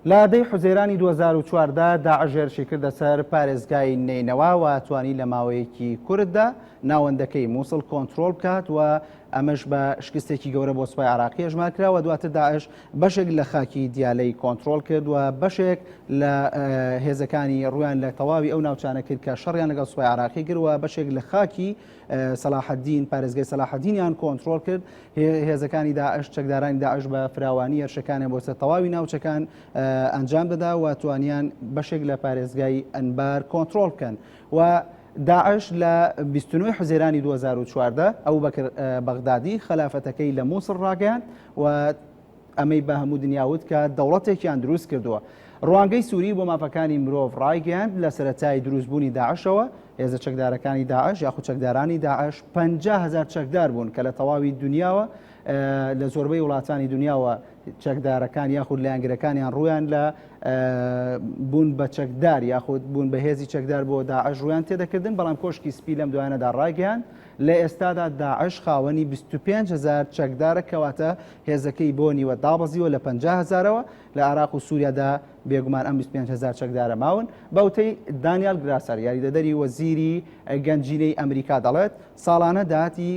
لە دەی حوزەیرانی دوو هەزار و چواردە داعش هێرشی کردە سەر پارێزگای نەینەوا و توانی لە ماوەیەکی کورتدا ناوەندەکەی مووسڵ کۆنتترۆل بکات و ئەمەش بە شکستێکی گەورە بۆ سوپای عراقی ژمار کراوە دواتر داعش بەشێک لە خاکی دیالەی کۆنتترۆل کرد و بەشێک لە هێزەکانی ڕویان لە تەواوی ئەو ناوچانە کرد کە شەڕیان لەگەڵ سوپای عراقی گروە بەشێک لە خاکی سەلاحەدین، پارێزگای سەلاحەدینیان کۆنترۆڵ کرد، هێزەکانی داعش چەکدارانی داعش بە فراوانی هێرشەکانیان بۆ سەر تەواوی ناوچەکان ئەنجام دەدا و توانیان بەشێک لە پارێزگای ئەنبار کۆنترۆڵ بکەن و داعش لە 29 حزێرانی 2014 ئەو بەکر بەغدادی خەلافەتەکەی لە مووسڵ ڕاگەیان و ئەمەی بە هەموو دنیا وت کە دەوڵەتێکیان دروست کردووە. ڕوانگەی سووری بۆ مافەکانی مرۆڤ ڕایگەیاند، لە سەرەتای دروستبوونی داعشەوە، هێزە چەکدارەکانی داعش یاخود چەکدارانی داعش پەنجا هەزار چەکدار بوون کە لە تەواوی دنیاوە لە زۆربەی وڵاتانی دنیاوە چەکدارەکان یاخود لایەنگرەکانیان ڕویان لە بوون بە چەکدار یاخود بوون بە هێزی چەکدار بۆ داعش ڕویان تێدەکردن بەڵام کۆشکی سپی لەم دوایانەدا ڕایگەیاند لە ئێستادا داعش خاوەنی بیست و پێنج هەزار چەکدارە کەواتە هێزەکەی بۆ نیوە دابەزیوە لە پەنجا هەزارەوە، لە عێراق و سووریادا بێگومان ئەم بیست و پێنج هەزار چەکدارە ماون. بە وتەی دانیال گراسەر یاریدەدەری وەزیری گەنجینەی ئەمریکا دەڵێت، ساڵانە داهاتی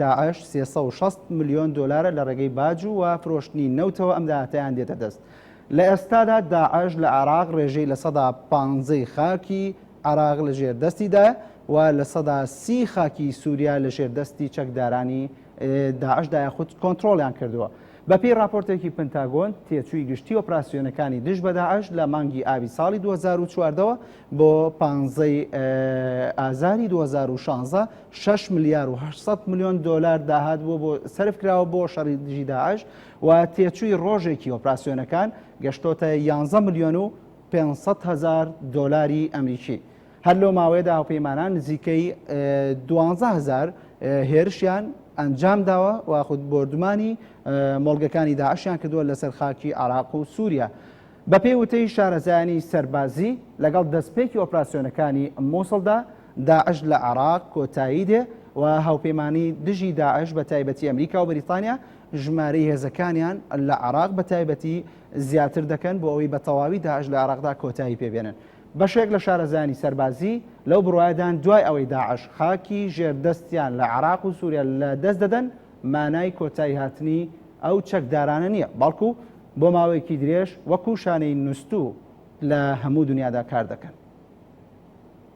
داعش سێ سەد و شەست ملیۆن دۆلارە لە ڕێگەی باج و فرۆشتنی نەوتەوە ئەم داهاتەیان دێتە دەست. لە ئێستادا داعش لە عێراق ڕێژەی لە سەدا پانزەی خاکی عێراق لە ژێر دەستیدایە و لە سەدا سی خاکی سووریا لە ژێر دەستی چەکدارانی داعشدا یاخود کۆنتترۆلیان کردووە. بەپێی راپۆرتێکی پنتاگۆن تێچووی گشتی ئۆپراسسیۆنەکانی دژ بە داعش لە مانگی ئابی ساڵی 2014ەوە بۆ پانزەی ئازاری 2016 6 ملیار و 800 میلیۆن دلار داهات بووە بۆ سرف کراوە بۆ شەڕی دژی داعش و تێچووی ڕۆژێکی ئۆپراسسیۆنەکان گەشتۆتە 11 ملیۆن و پێنج سەد هەزار دۆلاری ئەمریکی. هەر لەو ماوەیەدا هاوپەیمانان نزیکەی دوانزە هەزار هێرشیان ئەنجامداوە و خود بۆردومانی مۆڵگەکانی داعشیان کردووە لەسەر خاکی عێراق و سووریا. بەپێی وتەی شارەزایانی سەربازی، لەگەڵ دەستپێکی ئۆپراسیۆنەکانی مووسڵدا، داعش لە عێراق کۆتایی دێ و هاوپەیمانانی دژی داعش بەتایبەتی ئەمریکا و بەریتانیا ژمارەی هێزەکانیان لە عێراق بەتایبەتی زیاتر دەکەن بۆ ئەوەی بە تەواوی داعش لە عێراقدا کۆتایی پێ بێنن. بەشێک لە شارەزایانی سەربازی لەو بڕوایەدان دوای ئەوەی داعش خاکی ژێر دەستیان لە عێراق و سووریا لە دەست دەدەن مانای کۆتایی هاتنی ئەو چەکدارانە نییە بەڵکو بۆ ماوەیەکی درێژ وەکو شانەی نوستوو لە هەموو دنیادا کار دەکەن.